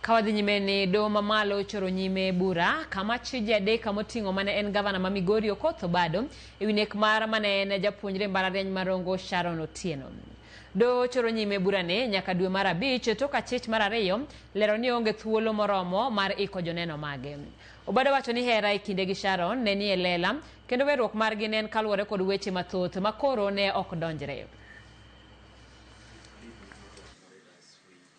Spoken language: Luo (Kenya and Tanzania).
Kawadhi nyime ni doho mamalo ochoro nyime bura kama chi ji adek kama oting'o mane en gavana ma Migori Okoth Obado ewi nek mar mane en japuonjre mbalariany ma Rongo Sharon Otieno. Doho ochoro nyime burane nyaka dwe mar abich tok achich mar ariyo lero ni onge thuolo moromo mar iko joneno mage. Obado wacho ni hera e kinde gi Sharon ne nie lela kendo werruok margi ne en kaluwore kod weche mathoth ma koro ne ok donjre.